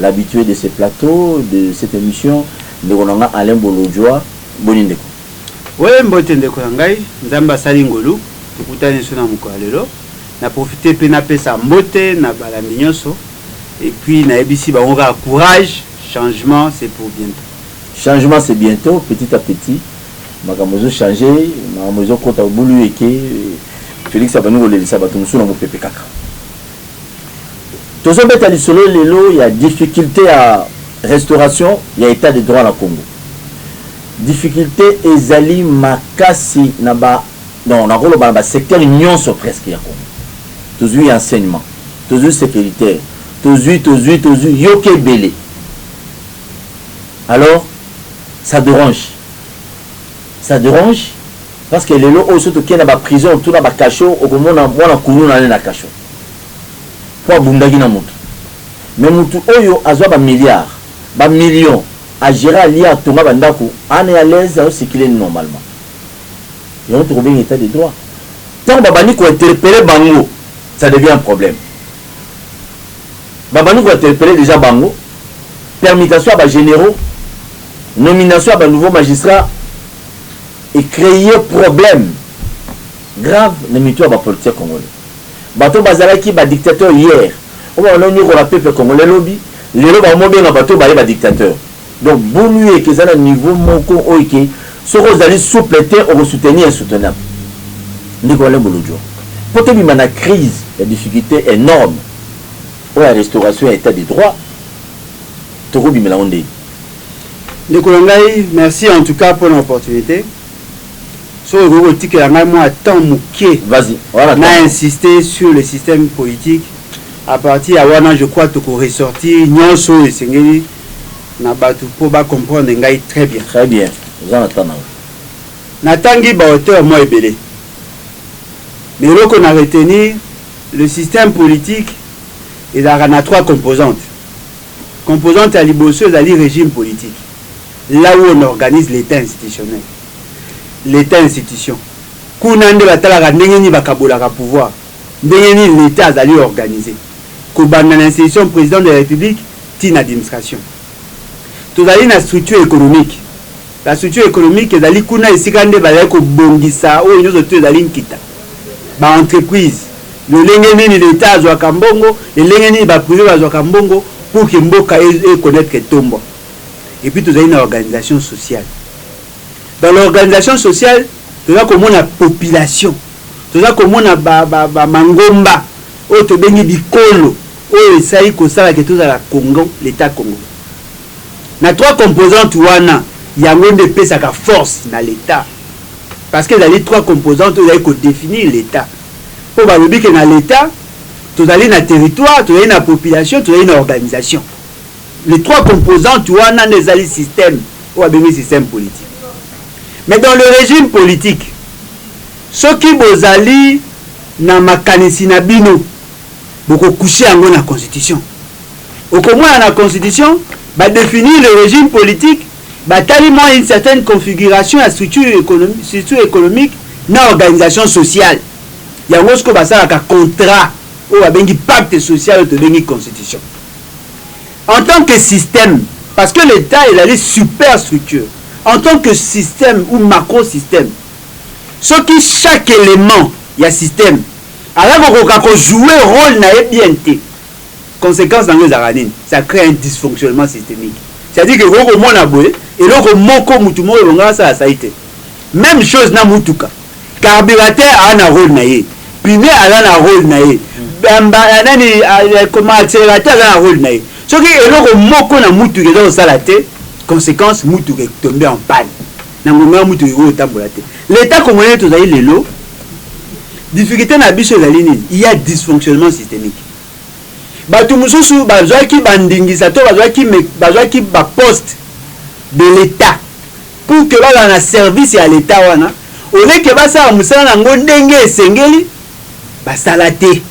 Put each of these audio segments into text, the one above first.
L'habitue de ce plateau de cette emission ndeko na nga Alain Bolodjwa boni ndeko. Wee mbote ndeko na ngai, Nzambe asali ngolu tokutani lisusu na mokolo ya lelo. Na profiter pe napesa mbote na balandi nionso et puis nayebisi bango kaka courage changement c'est pour bientot. Changement c'est bientot, petit à petit makambo ezo changer, makambo ezo kota, obulu eke Felix abandi kolelisa batu mosusu na mupepe kaka. Tozo beta lisolo lelo ya difficulte ya restauration ya etat de droit na Congo. Difficulte ezali makasi na ba donc nako loba na ba secteurs nionso presque ya Congo. Tozui enseignement, tozui securitaire, tozui, tozui, tozui yoka ebele. Alors ça derange. Ça derange parce que lelo oyo soki toke na ba prison to na ba cachot okomona mwana kuluna ne na cachot po abundaki na mutu mais mutu oyo azua ba milliards ba million a gera alia atonga ba ndaku ane a l'aise azo circuler normalement yango tokobenga etat de droit tango babandi ko interpelle bango ça devient un problème babandi ko interpelle dejà bango permutation ya ba generaux Nomination ya ba nouveaux magistrats e creer problème grave na mitu ya ba politiques congolais. Bato oyo bazalaki ba dictateurs hier, oyo babanda konyokola peuple congolais lobi, lelo bango bobenga bato oyo baye ba dictateurs. Donc Bulueke eza na niveau moko oyo ke soki ozali souple te oko soutenir insoutenable. Ndeko Alain Bolodjwa, po tobima na crise ya difficulte enorme oyo ya restauration ya etat de droit, tokobimela yango ndenge? Ndeko na ngai merci en tout cas pona opportunite soki okoki kotikela ngai mwa temps moke na insister sur le système politique à partir ya wana je crois toko ressortir nyonso oyo esengeli na bato mpo ba comprendre ngai très bien très bien oza na temps na natangi ba auteur mwa ebele mais eloko na retenir le système politique ezalaka na trois composantes Composante ya liboso ezali regime politique, là où on organise l'Etat institutionnel, l'Etat institution. Kuna nde batalaka ndenge nini bakabolaka pouvoir, ndenge nini l'Etat azali organise, kobanda na institution President de la Republique tii na administration. Tozali na structure economique. La structure economique ezali kuna esika nde bazali kobongisa oyo nionso tout ezali nkita. Ba entreprises, lolenge nini l'Etat azuaka mbongo, lelenge nini ba prives bazuaka mbongo pour que mboka e connaitre etombo. Et puis tozali na organisation sociale. Dans l'organisation sociale, toza komona population, toza komona ba ba ba mangomba oyo tobengi bikolo oyo esali kosala que tozala Congo, l'Etat Congo. Na trois composantes wana, yango nde epesaka force na l'Etat. Parce que ezali trois composantes oyo ezali ko definir l'Etat. Po balobi que na l'Etat, tozali na territoire, tozali na population, tozali na organisation. Les trois composantes wana nde esali système oyo babengi système politique. Mais dans le regime politique, soki bozali na makanisi na bino, boko coucher yango na constitution. Okomona na constitution ba definir le regime politique, batali mua une certaine configuration ya structure economique na organisation sociale. Yango sikoyo basalaka contrat oyo babengi pacte social oyo tobengi constitution. En tant que système, parce que l'Etat ezali superstructure, en tant que système ou macrosystème, soki chaque element ya système aza kokoka ko jouer role na ye bien te, consequence na yango ezalaka nini? Ça cree un dysfonctionnement systemique. C'est à dire que okoki komona boye eloko moko mutu moko elonga asala asali te. Meme chose na mutuka. Carburateur aza na role na ye, pneu aza na role na ye, nani koma accelerateur aza na role na ye. Soki eloko moko na mutuka eza kosala te, consequence mutuka e tomber en panne. Na ngonga yango motuka ekoki kotambola te. L'etat congolais tozali lelo, difficulte na biso ezali nini? Il ya dysfonctionnement systemique. Batu mosusu bazuaki ba ndingisa to bazuaki bazuaki ba poste de l'etat pour que bazala na service ya l'etat wana au lieu que basala mosala na yango ndenge esengeli basala te.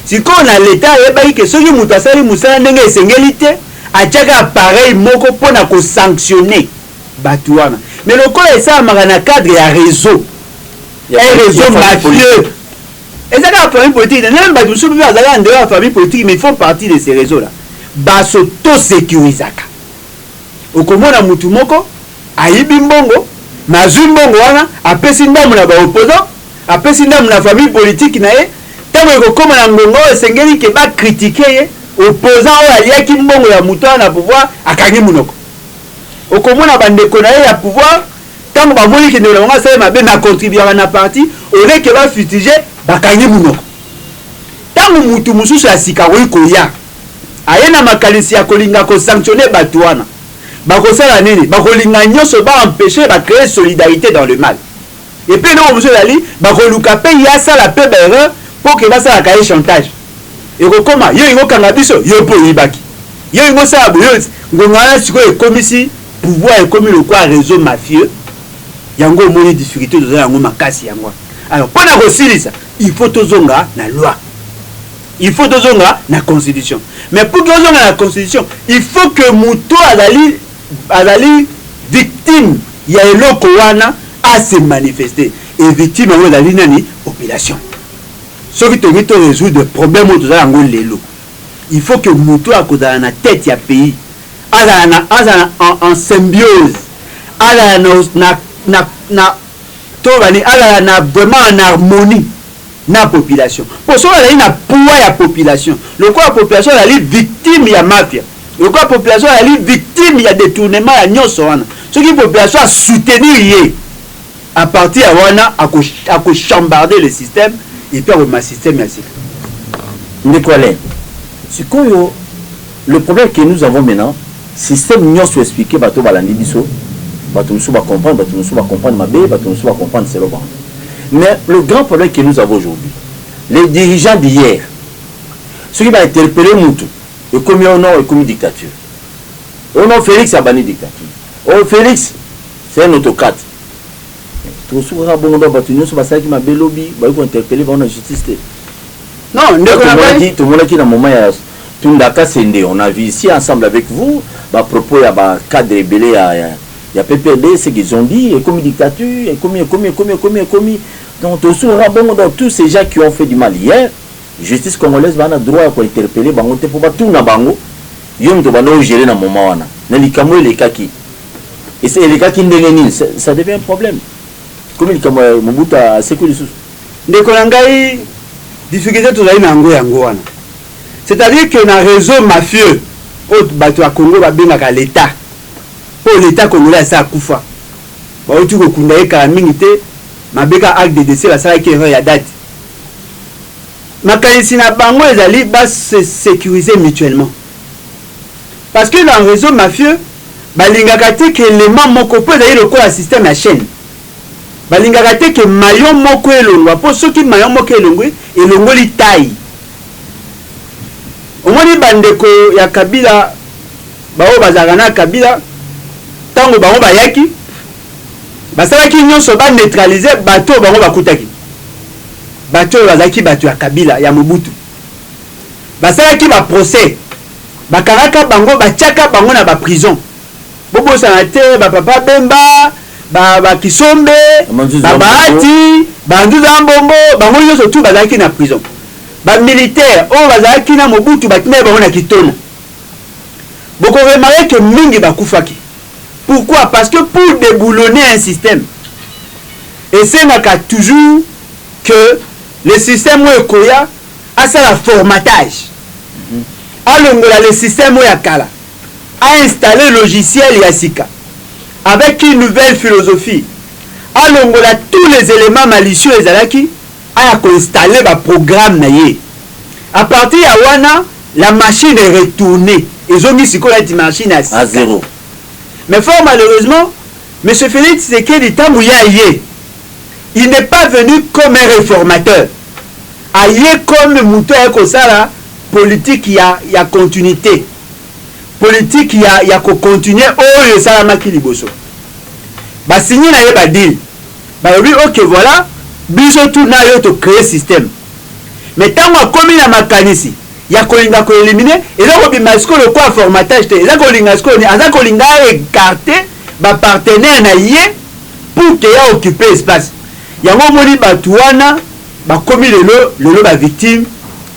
Sikoyo na l'etat ayebaki que soki moto asali mosala ndenge esengeli te atiaka appareil moko mpo na ko sanctionner batu wana mais lokola esalamaka na cadre ya reseau un reseau mafieux eza kaka famille politique te meme batu mosusu mpe baza kaka ndeyo ya famille politique mais font partie de ce reseau là baso to securisaka okomona mutu moko ayibi mbongo mais azwi mbongo wana apesi ndambo na ba opposant apesi ndambo na famille politique na ye ntango ekokoma na ngonga oyo esengeli ke bakritike ye opposant oyo aliaki mbongo ya moto wana na pouvoir akangi monoko Okomona ba ndeko naye ya pouvoir tango ba moni ke ndeko na bango asali mabe mais a contribuaka na parti au lieu ke ba futiger ba kangi munoko. Tango mutu mususu ya sika akoki koya aye na makanisi ya kolinga ko sanctionner batu wana bakosala nini? Bakolinga nionso ba empecher ba creer solidarite dans le mal. Et puis eloko mosusu ezali bakoluka mpe ye asala mpe ba erreur mpo ke basalaka ye chantage. Ekokoma yo olingi okanga biso, yo mpe oyibaki, yo olingi osala boye, yo ngonga wana sikoyo ekomisi pouvoir ekomi lokola reseau mafieux, yango omoni difficulte toza na yango makasi yango wana. Alors mpo na kosilisa il faut tozonga na loi, il faut tozonga na constitution. Mais pour que ozonga na constitution il faut que moto oyo azali azali victime ya eloko wana a se manifester et victime yango ezali nani? Population. Soki tolingi to resoudre problème oyo toza na yango lelo, il faut que mutu oyo akozala na tete ya pays azala na azala en en symbiose, azala na na na na toloba nini? Azala na vraiment en harmonie na population mpo soki azali na poids ya population lokola population azali victime ya mafia, Lokola population azali victime ya detournement ya nionso wana, soki population a soutenir ye, à partir ya wana ako chambarder le système et puis akobima système ya sika. Ndeko Alain, sikoyo le problème que nous avons maintenant, système nionso expliquer bato oyo balandi biso, bato mosusu ba comprendre, bato mosusu ba comprendre mabe, bato mosusu ba comprendre selon bango. Mais le grand problème que nous avons aujourd'hui, les dirigeants d'hier, soki ba interpeller mutu, Ekomi oh non ekomi dictature oh non Felix abandi dictature oh Felix c'est un autocrate mais tokosuka kaka bongo donc batu nionso basalaki mabe lobi bakoki ko interpeller bango na justice te non ndeko na ngai tomonaki na moment ya Tunda Kasende on a vu ici ensemble avec vous ba propos ya ba cadre ebele ya ya PPRD ce qu'ils ont dit ekomi dictature ekomi ekomi ekomi ekomi ekomi donc tokosuka kaka bongo donc tous ces gens qui ont fait du mal hier Justice congolaise baza na droit ya ko interpeller bango te po ba tuna bango yo mutu obanda o gerer na moment wana mais likambo elekaki esi elekaki ndenge nini c'est ça devient un problème ekomi likambo ya Mobutu asekwi lisusu. Ndeko na ngai difficulte tozali na yango yango wana c'est à dire que na reseau mafieux oyo batu ya Congo ba bengaka l'etat po l'etat congolais asi akufa bawuti kokunda ye kala mingi te mabe kaka acte de decès basalaki erreur ya date makanisi na bango ezali ba se securiser mutuellement parce que dans reseau mafieux balingaka te que element moko po ezali lokola système ya chaine balingaka te que maillon moko elongua po soki maillon moko elongui elongoli taille omoni ba ndeko ya kabila ba oyo bazalaka na kabila tango bango bayaki Basalaki nionso ba neutraliser batu oyo bango bakutaki. Batu oyo bazalaki batu ya Kabila, ya Mobutu. Basalaki ba procès, bakangaka bango, batiaka bango na ba prison. Bobosana te ba papa Bemba, ba ba Kisombe, ba Bahati, ba Nzuza Ambongo, bango nionso tout bazalaki na prison. Ba militaires oyo bazalaki na Mobutu batindaki bango na Kitona. Boko remarquer que mingi bakufaki. Pourquoi? Parce que pour deboulonner un système esengaka toujours que le système oyo ekoya asala formatage, alongola le système oyo ya kala, a installer logiciel ya sika avec une nouvelle philosophie, alongola tous les elements malicieux ezalaki Aya ko installer ba programmes na ye. A partir ya wana, la machine est retournee. Ezongi sikoyo neti machine ya sika. A zero. Mais fort malheureusement, Monsieur Felix Tshisekedi tango ye aye, il n'est pas venu comme un reformateur. Aye comme mutu aye kosala politique ya, ya continuite. Politique ya, ya ko continuer oyo esalamaki liboso. Ba signer na ye ba deal. Balobi ok voila biso tout nayo to cree système mais tangu akomi na makanisi ya kolinga ko eliminer eza kobima sikoyo lokola formatage te eza kolinga sikoyo nini aza kolinga a ecarter ba partenaires na ye pour que a occuper espace yango omoni batu wana bakomi lelo lelo ba victimes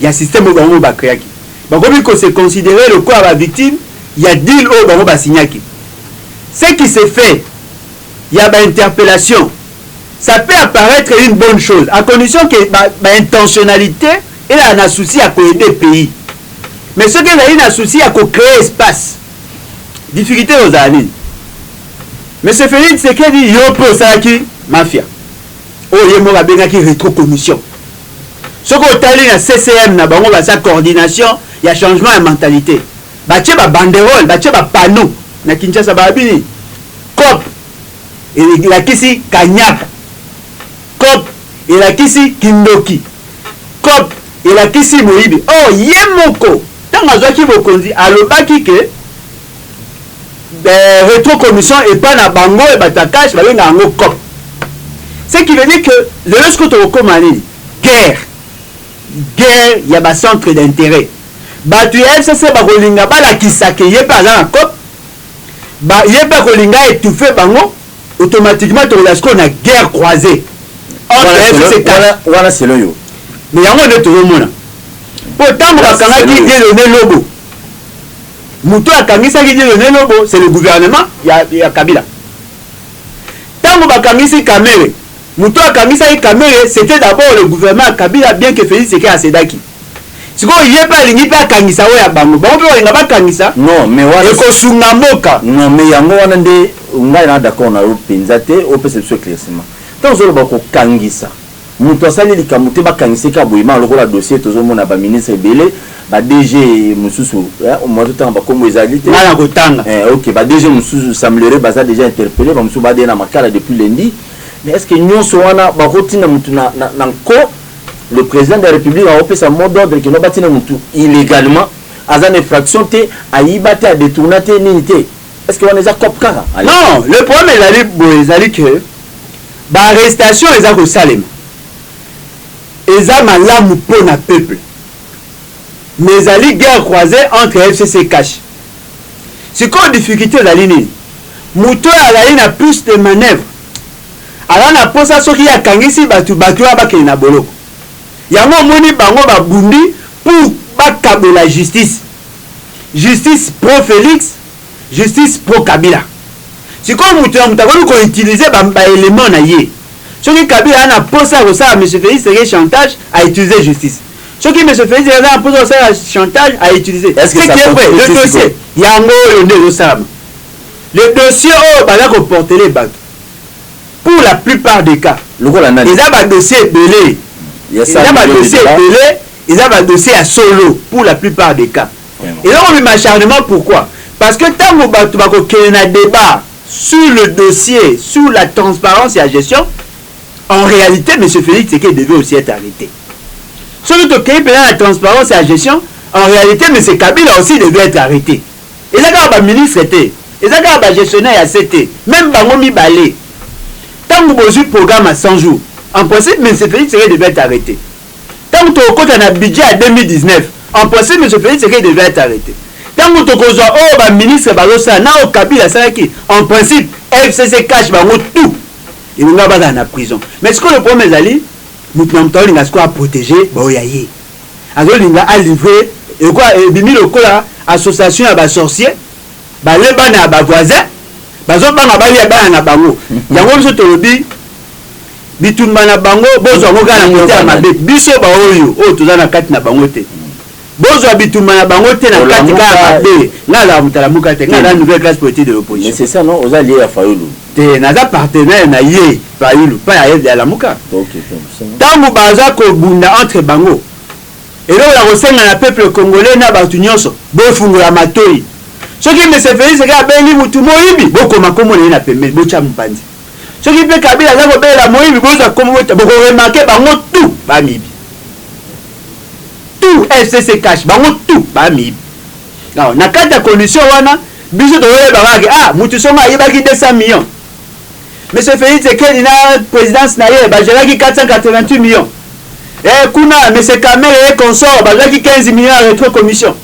ya système oyo bango moko ba creaki bakomi ko se considerer lokola ba victimes ya deal oyo bango ba signaki ce qui se fait ya ba interpellation ça peut apparaitre une bonne chose à condition que ba, ba intentionnalite ezala na souci ya ko aider pays mais soki ezali na souci ya ko créer espace difficulté ekozala nini monsieur Felix Tshisekedi yo mpe osalaki mafia oyo ye moko abengaki retro commission soki otali na ccm na bango baza coordination ya changement ya mentalité batie babanderole batie bapano na kinshasa baabini Coop elakisi kanyaka. Coop elakisi kindoki. Coop elakisi moyibi. Or, ye moko tango azwaki bokonzi alobaki que retro commission epa na bango ya batu ya cash babengaka yango coop. Ce qui veut dire que lelo sikoyo tokokoma nini? Guerre. Guerre ya ba centres d'interet. Batu ya FCC bakolinga balakisa que ye pe aza na coop. Ba ye pe ako linga etouffe bango automatiquement toko ya sikoyo na guerre croisee entre FCC Tala. Wana selon yo. Mais yango nde tozo mona. Po tango ba kangaki Dieudonne Lobo mutu oyo akangisaki Dieudonne Lobo c'est le gouvernement ya ya Kabila. Tango ba kangisi Kamere mutu oyo akangisaki Kamere c'etait d'abord le gouvernement ya Kabila bien que Felix Tshisekedi a cedaki. sikoyo ye pe alingi pe akangisa oyo ya bango bango pe balinga bakangisa non mais wana ekosunga mboka non mais yango wana nde ngai na d'accord na yo mpenza te opesa biso éclaircissement ntango ozoloba kokangisa moto asali likambo te bakangisa eka boyema lokola dossier tozomona baministre ebele badg mosusu eh, moto otanga bakombo ezali te ngai nakotanga eh, ok badg mosusu semblere baza déjà interpellé bamosusu bade na makala depuis lundi mais est ce que nyonso wana bakotinda moto na nko Le president de la republique ako pesa mot d'ordre keno ba tina mutu illegalement aza na effraction te ayiba te a detourna te nini te est ce que wana eza cop kaka? Non le problème ezali boye ezali que ba arrestation eza ko salema eza malamu po na peuple mais ezali guerre croise entre FCC et CACH sikoyo difficulte ezali nini mutu oyo azali na plus de manœuvre Aza na posa soki ye akangisi batu batu wana bakende na boloko yango omoni bango ba bundi pour ba kabola justice justice pro Felix justice pro kabila sikoyo mutu na mutu akoki ko utilise ba ba element na ye soki kabila aza na posa ya kosala monsieur Felix tshisekedi chantage a utilise justice soki monsieur Felix tshisekedi aza na posa ya kosala chantage a utilise Est-ce que ce ça qui est vrai concrète le sikoyo? dossier yango oyo nde ezo salama le dossier oyo baza ko portele batu pour la plus part de cas eza ba dossier ebele eza ba dossier ebele eza ba dossier ya solo pour la plus part de cas eza kobima acharnement pourquoi parce que ntango bato bakokende na debat sur le dossier sur la transparence ya gestion en réalité monsieur félix tseke devait aussi être arrêté soki tokei mpenza na transparence ya gestion en réalité monsieur kabila aussi devait être arrêté Eza kaka ba ministres te, eza kaka ba gestionnaires ya se te, meme bango mibale tangu bozui programme ya 100 jours en principe monsieur Felix Tshisekedi devait etre arrete, tangu tokokota na budget ya 2019 en principe monsieur Felix Tshisekedi devait etre arrete, tangu tokozua oyo ba ministres bazosala na oyo Kabila asalaki en principe FCC, CACH bango tout elingaki bazala na prison mais sikoyo le problème ezali mutu na mutu alinga sikoyo a proteger ba oyo ya ye. azo linga a livre ekwa ebimi lokola association ya ba sorcier balie bana ya ba voisin bazo banga balia bana na bango yango biso tolobi bitumba na bango bozwa yango kaka na kote ya mabe biso baoyo oyo toza na kati na bango te bozwa bitumba na bango te na kati kaka mabe nga azala motalamuka te nga aza nouvelle classe politique de l'opposition mais c'est ça non oza lie ya fayulu te naza partenaire na ye fayulu pa ya ya lamuka ntango baza kobunda entre bango eloko ya kosenga na peuple congolais na bato nyonso bofungola matoi soki mese felix kaka abengi motu moyibi bokoma nkombo na ye na pembeni botya mopanzi soki mpe kabila aza kobelela moyibi bozwa nkombo botya bokoremake bango tu bamiyibi tu fcc cash bango tu bamiyibi na kati ya condition wana Biso toyeba kaka ke ah mutu songa ayibaki 200 millions. Monsieur Felix Tsekedi na presidence na ye ba geraki 488 millions. Eh kuna monsieur Kamere et consort bazwaki 15 millions ya retro commission.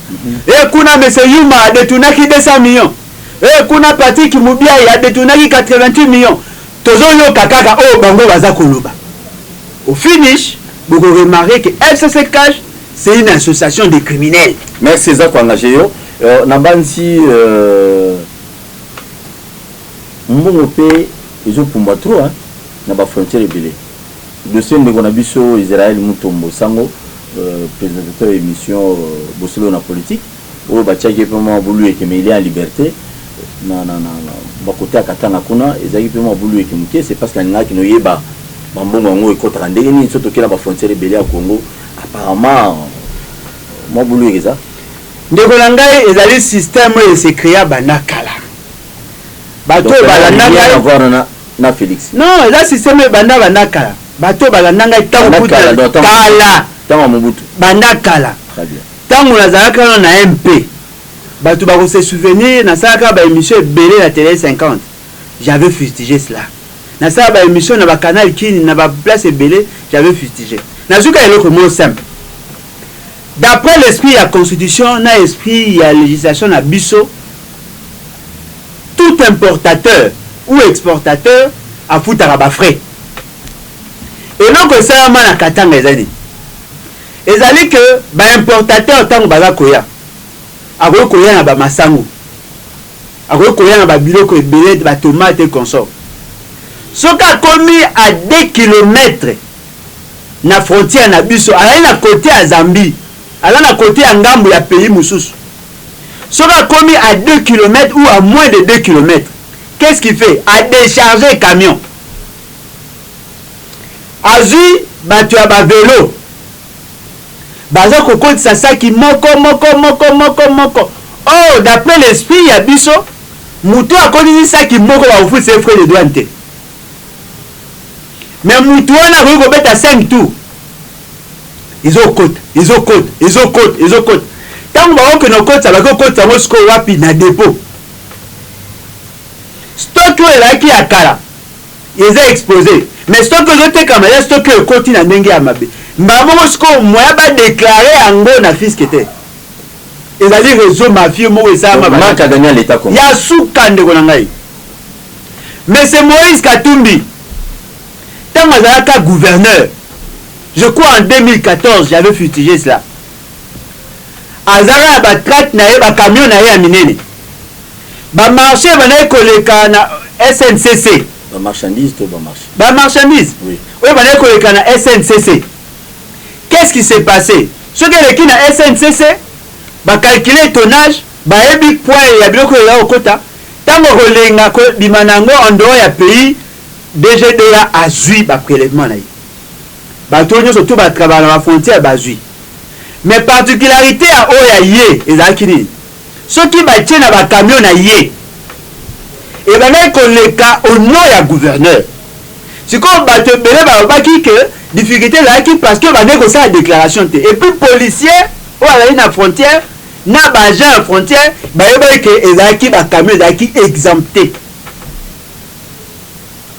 Eh kuna monsieur Yuma a detournaki 200 millions. Eh kuna Patrick Mubiayi a detournaki 88 millions. Tozo yoka kaka oyo bango baza koloba. Au finish boko remarquer que FCC Cash c'est une association des criminels. Merci eza ko engager yo. Euh, nabanzi euh, mbongo mpe ezopumbwa trop hein, na bafrontière ebele dossier ndeko na biso israel mutombo sango euh, présentateur ya émission euh, bosolo na politique oyo batiaki ye mpe mwa bulu eke mais il est en liberté na, na, na, na bakote ya katanga kuna ezalaki mpe mwa bulu eke moke c'est parce que nalingaki noyeba bambongo yango ekotaka ndenge nini so tokela bafrontière ebele ya congo apparemment mwa bulu eke eza Ndeko na ngai ezali système oyo e se crea banda kala. Bato oyo balanda ngai. Na Felix. Non, eza système oyo ebanda banda kala. Bato oyo balanda ngai ntango kutu kala. Ntango ya Mobutu. Banda kala. Très bien. Ntango nazalaka wana na MP, bato bako se souvenir nasalaka ba émission ebele na tele 50. J'avais fustigé cela. Nasala ba émission na ba canal Kin na ba place ebele, j'avais fustigé. Nazwi kaka eloko moko simple. D'après l'esprit ya constitution na esprit ya legislation na biso, tout importateur ou exportateur afutaka ba frais. Eloko esalama na Katanga eza nini? Ezali que ba importateurs tango baza koya, akoki koya na ba masangu, akoki koya na ba biloko ebele, ba tomates et consorts. Soki akomi à deux kilomètres na frontière na biso azali na cote ya Zambie aza na cote ya ngambu ya pays mususu soki akomi à deux kilomètres ou à moins de deux kilomètres qu'est ce qui fait à decharger camion azui bato ya ba velo baza kokotisa saki moko moko moko moko moko or oh, d'après l'esprit ya biso moto akotisi saki moko bakofutisa ye frais de douane te Mais mutu wana akoki kobeta 5 tours ezokota ezokota ezokota ezokota ntango bakokende kokotisa bake kokotisa yango sikoyo wapi na depo stock oyo ezalaki ya kala eza expose mais stock oyo ezotekama ya stock oyo ekoti na ndenge ya mabe mbala moko sikoyo moya badeklare yango na fiske te ezali réseau mafieux moko esalama ya suka ndeko na ngai Monsieur Moïse Katumbi, tango azalaka gouverneur, je crois en 2014, j'avais futigé cela, azalaka na ba tracts na ye, ba camions na ye ya minene, ba marches ebandaki koleka na SNCC, ba marchandises to ba marches, ba marchandises oui. oyo ebandaki koleka na SNCC, qu'est-ce qui s'est passe? Soki eleki na SNCC, ba calculer tonnage, Bayebi poids ya biloko oyo ekokota tango akolenga ko bima na yango en dehors ya pays. DGDA azui ba prelevements na ye. Batu oyo nionso tout ba travaillaka na ba frontières bazui. Mais particularite ya oyo ya ye ezalaki nini? Soki batie na ba camions na ye, ebandaki koleka au nom ya gouverneur. Sikoyo batu ebele balobaki que difficulte ezalaki parce que ebandaki kosala declaration te. Et puis policier oyo azali na frontière na ba agents ya frontière bayebaki ke ezalaki ba camions ezalaki exempte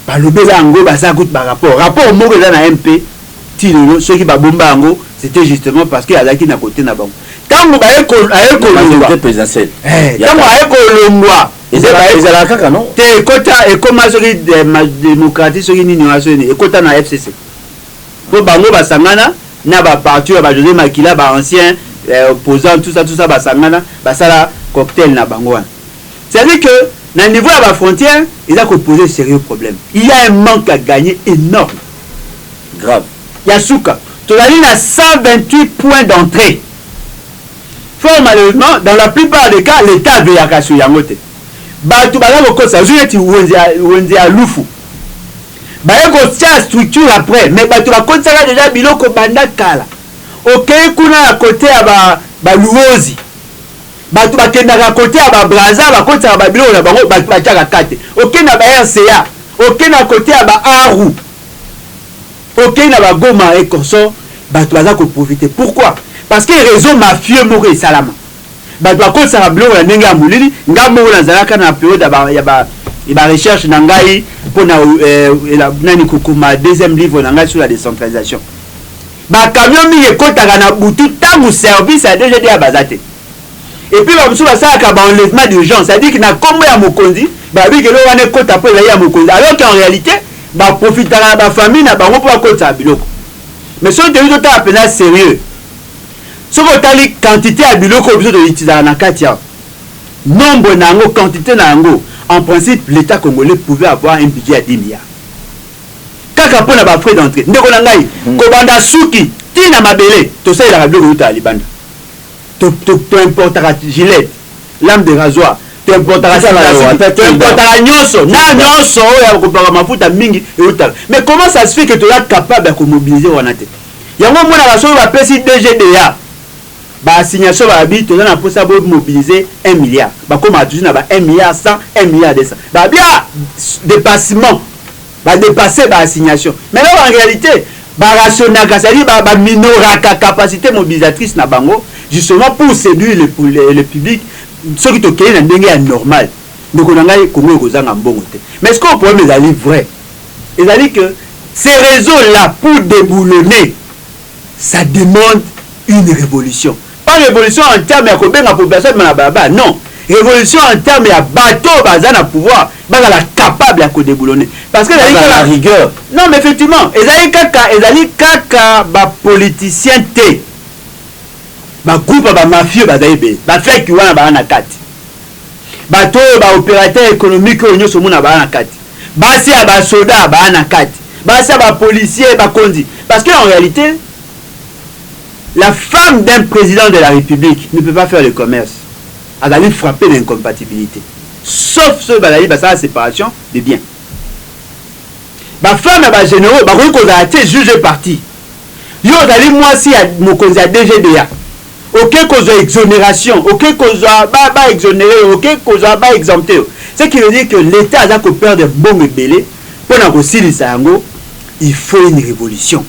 balobela yango baza kutu ba rapport rapport moko eza na mp ti lelo soki babomba yango c'était justement parce que azalaki na kote na bango ntango aye kolongwa ntango aye kolongwa ezalaka kaka no te ekota ekoma soki eh, démocratie soki nini wana soki ekota na fcc Po bango basangana na ba partout ya ba Jose Makila, ba anciens opposants tout ça tout ça basangana basala cocktail na bango wana. C'est à dire que na niveau ya ba frontières eza ko poser serieux problème. Il ya un manque à gagner enorme, grave. Ya suka, tozali na 128 points d'entree. Fort malheureusement, dans la plupart des cas, l'Etat aveyaka sur yango te. Batu baza kokosa, ozwi neti wenze ya lufu. Baye kotia structure après mais batu bakotisaka dejà biloko banda kala okeyi kuna na cote ya ba luozi batu bakendaka cote ya ba brazza bakotisaka ba biloko na bango batu batiaka kate okeyi na ba rca okeyi na cote ya ba aru okeyi na ba goma et consort batu baza ko profiter pourquoi parce que reseau mafieux moko esalama Bato bakotisaka biloko na ndenge ya molili. Ngai moko nazalaka na periode ya ba, ya ba, ya ba recherche na ngai mpo na eh, ela, nani kokoma deuxième livre na ngai sur la décentralisation. Ba camions mingi ekotaka na butu ntango service ya DGDA baza te. Et puis bamosusu basalaka ba enlèvement d'urgence, c'est-à-dire que na kombo ya mokonzi babi kelo wana ekota mpo ezali ya mokonzi, alors qu'en réalité baprofitaka na ba famille na bango mpo bakotisaka biloko. Mais soki toyebi totala mpenza serieux Soki otali quantite ya biloko oyo biso to utilisaka na kati awa, nombre na yango, quantite na yango, en principe l'Etat congolais pouvait avoir un budget ya 10 milliards. Kaka mpo na ba frais d'entree. Ndeko na ngai, kobanda suki tii na mabele, tosalelaka biloko eutaka libanda. To, to, to importaka gilette, lame de rasoir, to importaka Tika na sika yo, suki, ata to tii importaka ndako. nyonso, na nyonso oyo ya kopaka mafuta mingi eutaka. Mais comment ça se fait que toza capable ya ko mobiliser wana te? Yango omonaka soki ba pesi DGDA ba assignation ba bi toza na posa bo mobiliser un milliard ba komaka toujours na ba un milliard 100, un milliard 200 ba bi ah depassement ba depasser ba assignation mais alors en realite ba rationnaka c'est à dire ba ba minoraka capacite mobilisatrice na bango justement pour seduire le, le, le public soki tokei na ndenge ya normal ndeko na ngai congo ekozanga mbongo te mais ce que problème ezali vrai ezali que ce reseau là pour deboulonner ça demande une revolution pas revolution en terme ya kobenga population abima na balabala non revolution en terme ya bato oyo baza na pouvoir bazala capable ya kodeboulonner parce que ezali kaka rigueur non mais effectivement ezali kaka ezali kaka ba politiciens te ba groupe ya ba mafieux baza ebele ba fake wana baza na kati Bato oyo ba operateur economique oyo nyoso omona baa na kati. Basi ya ba soda baa na kati. Basi ya ba policiers, bakonzi. Parce que en realite, la femme d'un president de la Republique ne peut pas faire le commerce. Azali frapper na incompatibilite. Sauf soki bazali basala separation de biens. Ba femmes ya ba generaux bakoki kozala te juge et partie. Yo ozali mwasi ya mokonzi ya DGDA. Oke kozwa exoneration, oke kozwa ba ba exonere yo, oke kozwa ba exempte yo. Ce qui veut dire que l'Etat aza ko perdre mbongo ebele mpo na kosilisa yango. Il faut une revolution,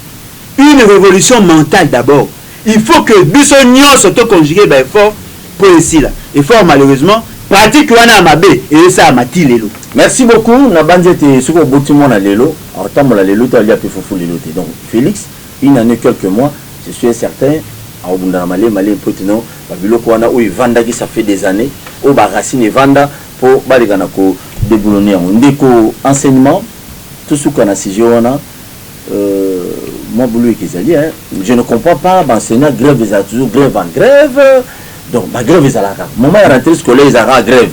une revolution mentale d'abord. Il faut que biso nionso to conjuguer ba efforts mpo esila. Et fort malheureusement, pratique wana ya mabe ezosalama tii lelo. Merci beaucoup, nabanzi ete soki oboti mwana lelo, akotambola lelo te, alia mpe fufu lelo te. Donc Felix. Une annee quelques mois je suis un certain akobunda na malembe malembe mpo ete non ba biloko wana oyo evandaki ça fait des annees oyo ba racines evanda mpo baleka na ko deboulonner yango ndeko enseignement tosuka na sujet wana euh mwa buluyeke ezali hein je ne comprends pas ba enseignants grève ezala toujours grève en grève donc ba grève ezalaka kaka moment ya rentree scolaire ezalaka kaka grève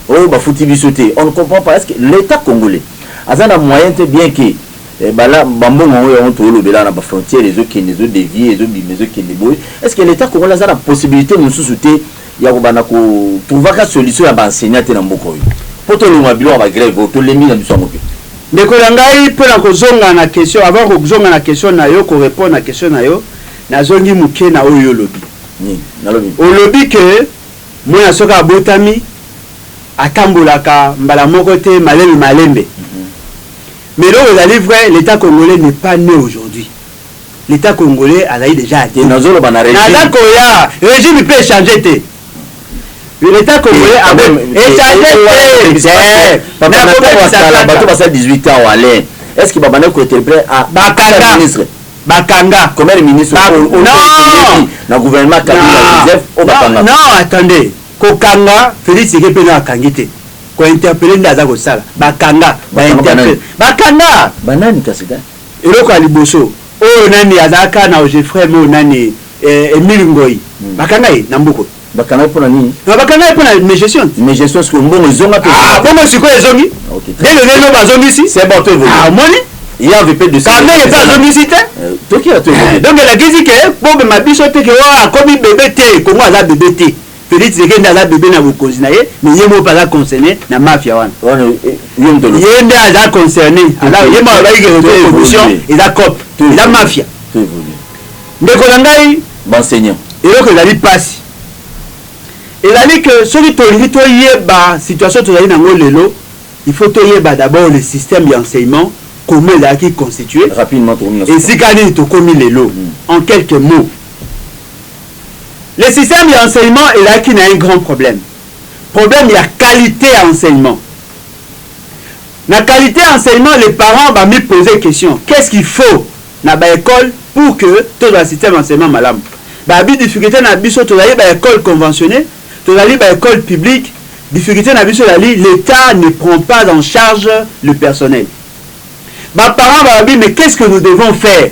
oyo bafuti biso te on ne comprends pas est ce que l'etat congolais aza na moyen te bien que Eh ba la ba mbongo yango yango tozo lobela wana ba frontière ezo kende ezo devier ezo bima ezo kende boye est ce que l'etat congolais aza na possibilite mususu te ya ko banda ko trouva ka solution ya ba enseignants te na mboka oyo po to longwa biloko ya ba grève oyo to lembi na biso yango pe Ndeko na ngai mpo na kozonga na question avant kozonga na question na yo ko repondre na question na yo nazongi moke na oyo olobi nini nalobi olobi que mwana soki abotami atambolaka mbala moko te malembe malembe Mais eloko ezali vrai l'etat congolais n'est pas ne aujourd'hui l'etat congolais azali dejà adele naza koya regime pe echange te l'etat congolais ako echange te nakobebisaka bato basala 18 ans wale est ce que babanda ko interprète a bakanga ministre bakanga combien de ministres non na gouvernement kabila joseph o bakanga non attendez kokanga Félix Tshisekedi pe na akangi te Ko interpelle nde aza kosala. Ba kanga, ba interpelle. Ba kanga! Ba nani kasi da? Eloko ya liboso, oyo nani azalaka na Ogefrem oyo nani eh, Emile Ngoyi. Ba kanga ye na mbuku. Ba kanga ye pona nini? Non, ba kanga ye pona mes gestions. Mes gestions sikoyo mbongo ezonga pe? Ah, bongo sikoyo ezongi? Ah, okay, très Lelo lelo ba zongisi? C'est bon, to evolue. Ah, omoni? Il y a VP de Kamere pe azongisi te? Euh, toki ya to evolue. Donc elakisi ke bobema biso te ke oyo akomi bebe te, Congo aza bebe te. Felix Tshisekedi aza bebe na bokonzi na ye mais ye moko aza concerne na mafia wana ye nde aza concerne ye moko alobaki ke corruption eza cop eza mafia ndeko na ngai banseignant eloko ezali mpasi ezali ke soki tolingi toyeba situation tozali nango lelo il faut toyeba d'abord le système ya enseignement comment ezalaki constitue esika nini tokomi lelo hmm. en quelques mots Le système ya enseignement ezalaki na un grand problème, problème ya qualite ya enseignement. Na qualite ya enseignement les parents ba mi poser question, qu'est ce qu'il faut na ba ecoles pour que tozwa na système ya enseignement malamu? Ba bi difficulte na biso tozali ba ecoles conventionnees, tozali ba ecoles publiques, difficulte na biso ezali l'Etat ne prend pas en charge le personnel. Ba parents ba lobi mais qu'est ce que nous devons faire?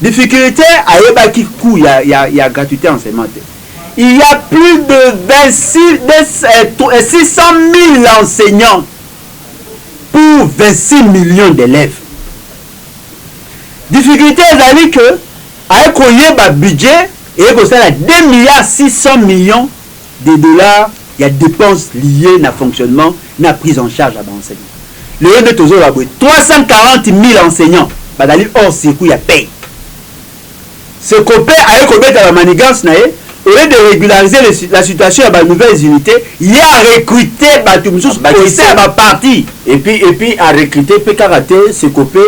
Difficulte ayebaki cout ya, ya, ya gratuite ya enseignement te. Il y a plus de 26, 600.000 enseignants pour 26 millions d'elèves. Difficulte ezali que aye koyeba budget eye kosala 2 milliards 600 millions de dollars ya depenses liees na fonctionnement na prise en charge ya ba enseignants. Lelo nde tozo loba boye 340.000 enseignants bazali hors circuit ya paie. Ce copain aye kobeta ba manigances na ye, au lieu de regulariser le la situation ya ba nouvelles unites, ye a recruter batu mosusu au sein ya ba partis. Et puis, et puis a recruter pe kaka te, ce copain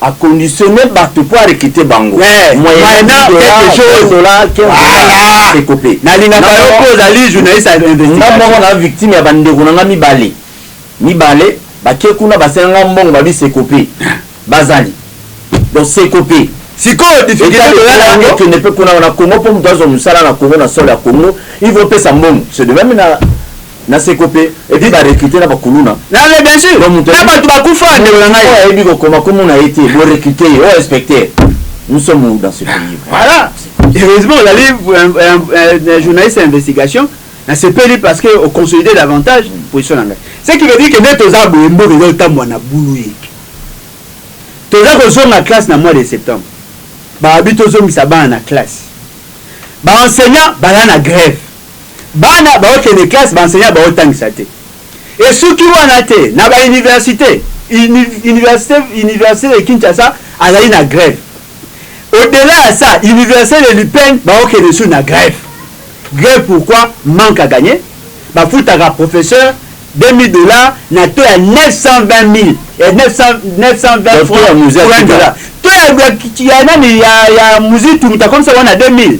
A conditionne batu po a recruter bango eh, moyennant quelques jours dollars 15 dollars ekope. Nalingaka yo po ozali journaliste ya investigation. Nga moko na victime ya bandeko na nga mibale mibale bake kuna basenga nga mbongo babi sekope bazali donc sekope sikoyo difficulté toza na yango kende pe kuna na Congo po moto azwa mosala na Congo na sol ya Congo il faut pesa mbongo c'est de même na na seko pe et puis ba recruter na ba kuluna na mais bien sûr na batu ba kufa ndeko na ngai oyo ayebi ko koma komo na ye te bo recruter ye oyo inspecteur nous sommes où dans ce pays voilà heureusement ozali un journaliste ya investigation na sepeli parce que au consolider davantage mm. position na ngai ce qui veut dire que nde toza boye mboka eza otambwa na bulu ye toza kozonga classe na mois de septembre baabi tozongisa bana na classe baenseignant baya na grève Bana baokende classe, ba enseignants baotangisa te. Esuki wana te, na ba universite, universite, universite de Kinshasa azali na grève. Au delà ya ça, universite de l'UPN baokende lisusu na grève. Grève pourquoi? Manque à gagner, bafutaka professeur 2000 dollars na taux ya 920.000, ya 900, 920 francs pour un dollar. Taux ya, ya nani, ya, ya Muzitu mutu akomisa bango na 2000.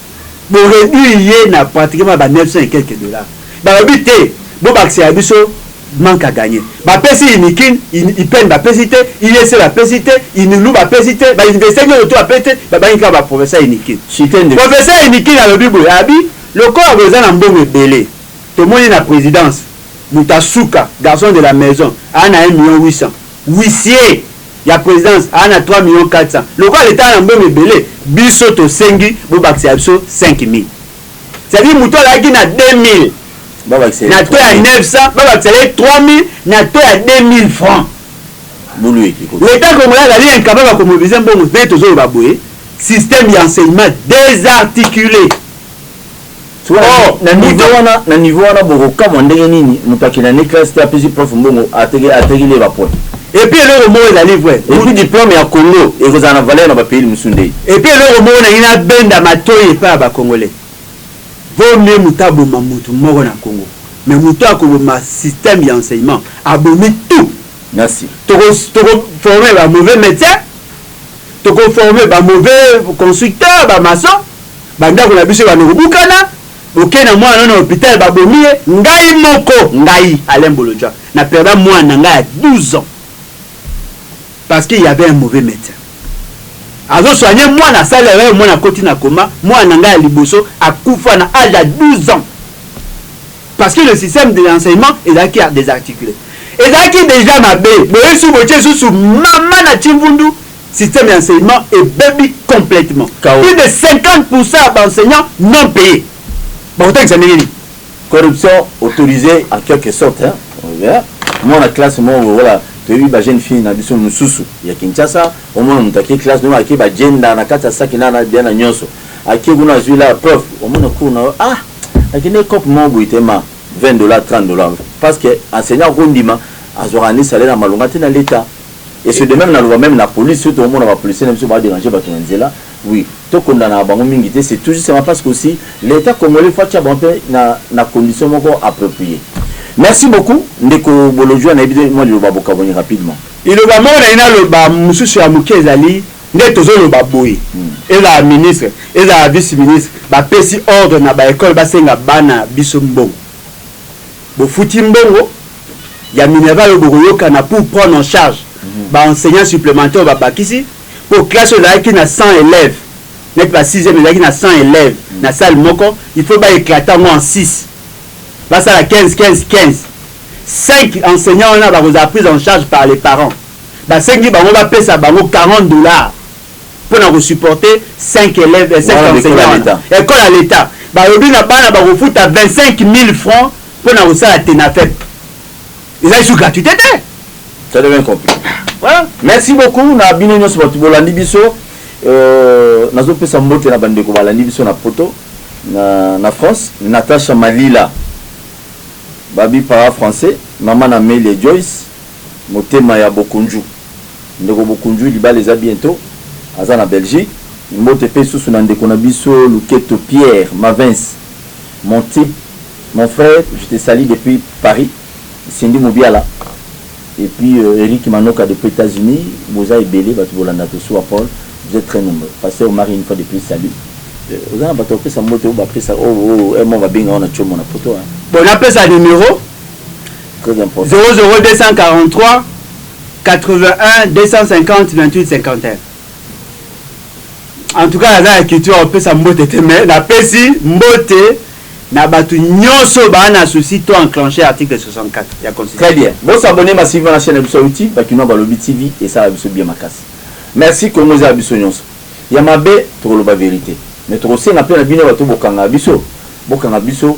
Bo reduire ye na pratiquement ba 900 et quelques dollars. Balobi te, bobakisela biso manque à gagner. Bapesi unikin, IPN bapesi te, IEC bapesi te, Unilu bapesi te, ba universite nionso tout bapesi te, babangi kaka ba professeur unikin. Professeur unikin alobi boye, abi, lokola boza na mbongo ebele, tomoni na presidence, mutu ya suka, garçon de la maison, aa na un million 800. Huissier ya presidence aa na 3 millions 400 lokola l'etat aa na mbongo ebele biso tosengi bobakisela biso 5000 c'est à dire mutu alaki na 2000 na taux ya 900 babakisela ye 3000 na taux ya 2000 francs l'etat congolais azali incapable ya ko mobiliser mbongo nde tozoloba boye système ya enseignement desarticule. Oh, na niveau Buda. wana na niveau wana bokokamwa ndenge nini moto akenda nde classe te apesi prof mbongo ateke- atekeli ye ba points Et puis eloko moko ezali vrai. et puis diplome ya congo ekozala na valeur na ba pays mosusu nde Et puis eloko moko nalingi nabenda matoyi epai ya ba congolais. Vaut mieux moto aboma moto moko na congo mais moto oyo akoboma système ya enseignement abomi tout. merci Toko toko former ba mauvais medecins, toko former ba mauvais constructeurs, ba maçons. Ba ndako na biso ebanda kobukana, bokei na mwana na yo na hopital babomi ye, ngai moko, ngai Alain Bolodjwa na perda mwana na ngai ya 12 ans parce qu'il y'avait un mauvais medecin azo soigner mwana asali erreur mwana akoti na coma, mwana na ngai ya liboso akufa na age ya 12 ans parce que le système de l'enseignement ezalaki desarticule, ezalaki dejà mabe, boyei susu botie susu mama na Tshimvundu. Système ya enseignement ebebi complètement. Chaos. Plus de 50 pour cent ya ba enseignants non payes. Bakotangisa ndenge nini? Corruption autorisee en quelque sorte hein. Oza mwana classe moko boye voilà toyebi ba jeune fille na biso mususu ya Kinshasa omona mutu ake classe noma ake ba jenda na kati ya saki na na bien na nionso ake kuna azui la prof omona cours na yo ah akende cop moko boye te ma 20 dollars 30 dollars parce que enseignant akondima azwaka ni salaire ya malonga te na l'etat Et ce de meme na loba meme na police soki toko mona ba policiers na biso ba deranger batu na nzela oui to kondanaka bango mingi te c'est tout justement parce que aussi l'etat congolais faut atia bango pe na na condition moko approprie merci beaucoup ndeko bolodjwa na yebi te mua liloba bokabwani rapidement. Liloba moko nalingi na loba mususu ya muke ezali nde tozo loba boye ezala ministre ezala vice ministre ba pesi ordre na ba ecole ba senga bana biso mbongo Bofuti mbongo Ya minerval oyo bokoyokana pour prendre en charge ba enseignants supplementaires oyo babakisi po classe oyo ezalaki na 100 elèves neti ba sixième ezalaki na 100 elèves na salle moko il faut ba eclater yango en six basala 15 15 15 cinq enseignants wana bakozala prise en charge par les parents basengi bango bapesa bango 40 dollars pona ko supporter 5 elèves 5 enseignants wana ecole ya l'etat balobi na bana bakofuta 25000 francs pona kosala tenafep eza lisusu gratuite te ça devient compliqué voilà merci beaucoup na bino nyonso bato bolandi biso euh, nazopesa mbote na bandeko balandi biso na poto na, na france natacha malila babi para français mama na meli joyce motema ya bokunju Ndeko Bokundjui libala eza bientot aza na Belgique mbote pe susu na ndeko na biso Luketo Pierre Mavens mon type mon frère je te salut depuis Paris Cindy Mubiala et puis Eric Manoka depuis Etats Unis boza ebele batu bolanda Tosuwa Paul vous etes très nombreux pasteur Omari une fois de plus salut oza na batu ya kopesa mbote oyo ba pesa oyo oyo MO ba benga yo na Tshomo na poto hein. Bon napesa numero. en tout cas naza na culture ya kopesa mbote te mais napesi mbote na bato nyonso baa na souci to enclenche article 64 ya constitution. Très bien. Bo s'abonner massivement na chaîne na biso ya YouTube Bakinois Balobi TV esala biso bien makasi. Merci Congo eza ya biso nyonso. Ya mabe tokoloba verite mais tokosenga mpe na bino bato bokanga biso bokanga biso